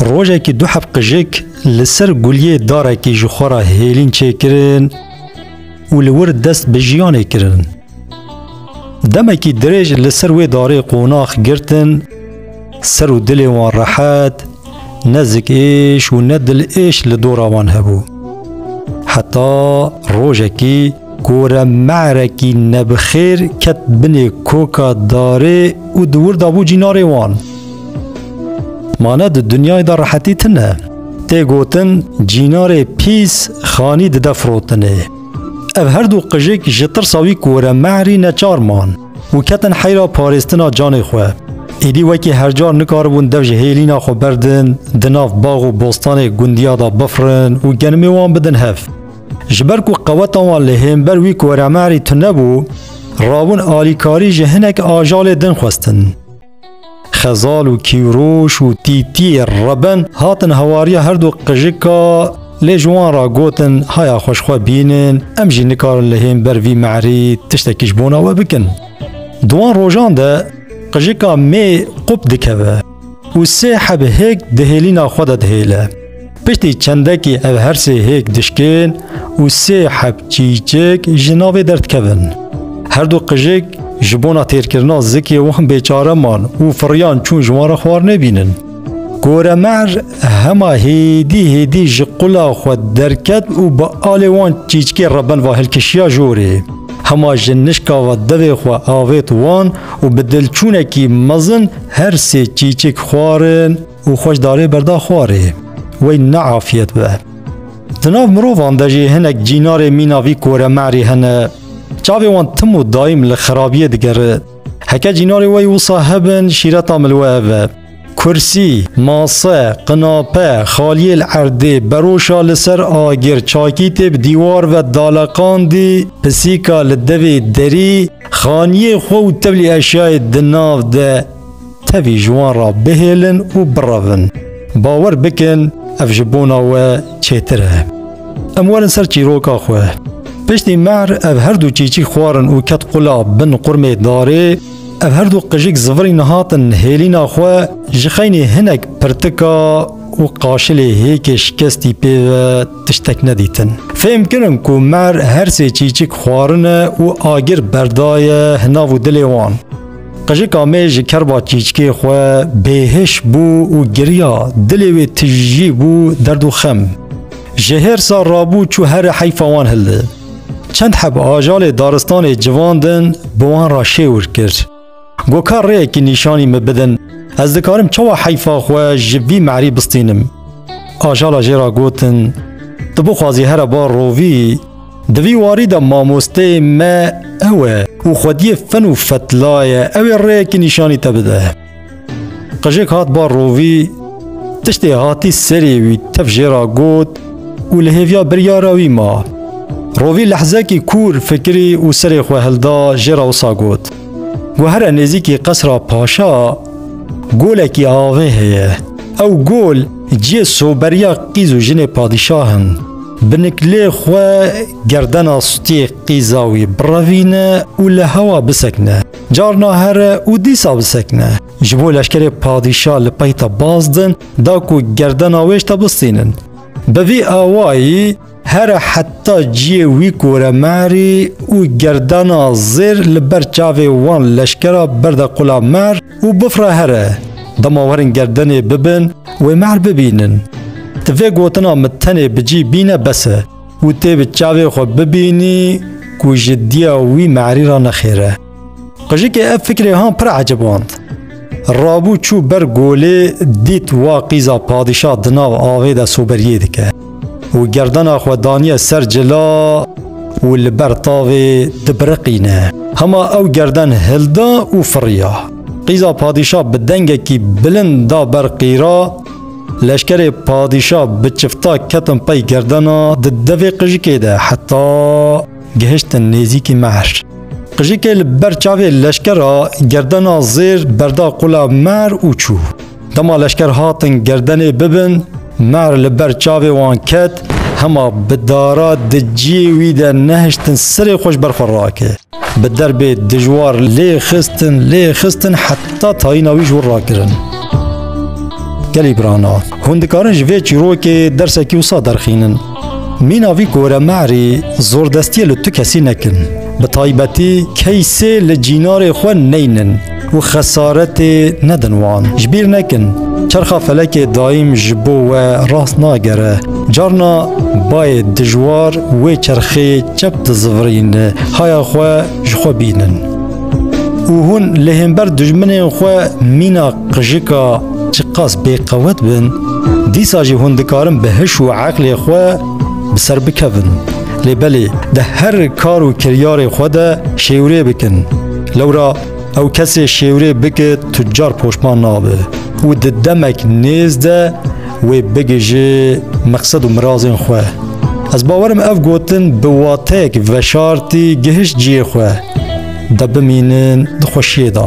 Rojekî du heb qijik li ser guliyê darekî ji xwe re hêlîn çêkirin û li wir dest bi jiyanê kirin. Demekî dirêj li ser wê darê qonax girtin, ser û dilê wan rehet, ne zik êş û ne dil êş li dora wan hebû. Heta rojekî Gore me'rekî nebixêr ket binê koka darê û di wir dabû cînarê wan. Mane di dinyayê de rehetî tine. Tê gotin cînarê pîs xanî dide firotinê. Ev her du qijik ji tirsa wî gore me'rî neçar man û ketin heyra parêstina canê xwe. Êdî wekî hercar nikaribûn dev ji hêlîna xwe berdin, di nav bax û bostanê gundiya de bifirin û genimê wan bidin hev. Ji ber ku qeweta wan li hênber wî koremerî tune bû, rabûn alîkarî ji hinek ajalê din xwestin. Xezal û Kîwroş û Tîtiyê Reben hatin hawariya her du qijika lê ji wan re gotin haya xwe ji xwe bînin, em jî nikarin li hênber vî merî tiştekî ji bona we bikin. Di wan rojan de qijika mê qûp dikeve. û sê heb hêk di hêlîna xwe de dihêle. Piştî çendekî ev her sê hêk dişkên û sê heb çîçek ji navê derdikevin. Her du qijik ji bona têrkirina zikê wan bêçare man û firiyan çûn ji wan re xwar nebînin. Goremer hema hêdî hêdî ji qula xwe derket û bi alê wan çîçkê re bin va hilkişiya jorê. Hema ji nişka ve devê xwe avêt wan û bi dilçûnekî mezin Her sê çîçik xwarin û xweş darê berda xwarê. Wey ne afiyet be. Di nav mirovan de jî hinek cînarê mîna vî koremerî hene. Çavê wan tim û daîm li xerabiyê digere. Heke cînarê wey wisa hebin şîreta min li we ev e. Kursî, mase, qinape, xaliyê li erdê, beroşa li ser agir, çakîtê bi dîwar ve daleqandî, pisîka li devê derî, Xaniyê xwe û tevlî eşyayê di nav de tevî ji wan re bihêlin û birevin. Bawer bikin ev ji bona we çêtir e. Em werin ser çîroka xwe. Piştî mehr ev her du çîçik xwarin û ket qula bin qurmê darê, ev her du qijik zivirîn hatin hêlîna xwe ji xeynî hinek pirtika û qaşilê hêkê şikestî pê ve tiştek nedîtin. Fêm kirin ku mer her sê çîçik xwarine û agir berdaye hi nav û dilê wan. Qijika me ji kerba çîçikê xwe bêhiş bû û giriya, dilê wê tijî bû derd û xem. Ji hêrsa rabû çû herê heyfa wan hildi. Çend heb ajalê daristanê civandin bi wan re şêwir kir. Got ka rêyekî nîşanî min bidin, ez dikarim çawa heyfa xwe ji vî merî bistînim. Ajala jê re gotin, Tu bixwazî here bar rovî, di vî warî de mamosteyê me ew e û xwediyê fen û fetlaye ew ê rêyekî nîşanî te bide. Qijik hat bar rovî, tiştê hatî serê wî tev jê ra got û li hêviya biryara wî ma. Rovî lehzekî kûr fikirî û serê xwe hilda jê ra wisa got, Ku here nêzîkî qesra paşa golekî avê heye. Ew gol ciyê soberiya qîz û jinê padîşah in. Bi niklê xwe gerdena stûyê qîza wî birevîne û li hewa bisekine. Carna here û dîsa bisekine. Ji bo leşkerê padîşa li peyta baz din da ku gerdena wêj te bistînin. Bi vî awayî here heta ciyê wî kore merî û gerdena zêr li ber çavê wan leşkera berde qula mer û bifre here. Dema werin gerdenê bibin wê mer bibînin. Ti vê gotina min tenê bi cî bîne bes e. û tê bi çavê xwe bibînî ku jiddiya wî merî re nexêr e. Qijikê ev fikrê han pir eciband. Rabû çû ber golê dît wa qîza padîşah di nav avê de soberiyê dike û gerdena xwe daniye ser cila û li ber tavê dibiriqîne. Hema ew gerden hilda û firiya. Qîza padîşah bi dengekî bilind da ber qîra Leşkerê padîşa bi çifta ketin pey gerdena di devê qijikê de heta gihiştin nêzîkî mehr. Qijikê li ber çavê leşkera gerdena zêr berda qula mehr û çû. Dema leşker hatin gerdenê bibin, mehr li ber çavê wan ket, hema bi dara di ciyê wî de nehiştin sirê xwe ji ber xwe rakir. Bi derbê dijwar lê xistin lê xistin heta tayîna wî ji wir rakirin. Gelî birana hûn dikarin ji vê çîrokê dersekî wisa derxînin. Mîna vî kore merî zordestiye li tu kesî nekin. Bi taybetî keysê li cînarê xwe neynin. û xesaretê nedin wan. Ji bîr nekin, çerxa felekê daîm ji bo we rast nagere. Carna bayê dijwar wê çerxeyê çep dizivirîn, haya xwe ji xwe bînin. Û hûn li hênber dijminên xwe mîna qijika çiqas bêqewet bin, dîsa jî hûn dikarin bi hiş û eqlê xwe bi ser bikevin. Lê belê di her kar û kiryarê xwe de şêwirê bikin. Lewra Ew kesê şêwrê bike tucar poşman nabe û di demek nêz de wê bigije meqsed û mirazên xwe. Ez bawerim ev gotin bi wateyek veşartî gihişt ciyê xwe de bimînin di xweşiyê de.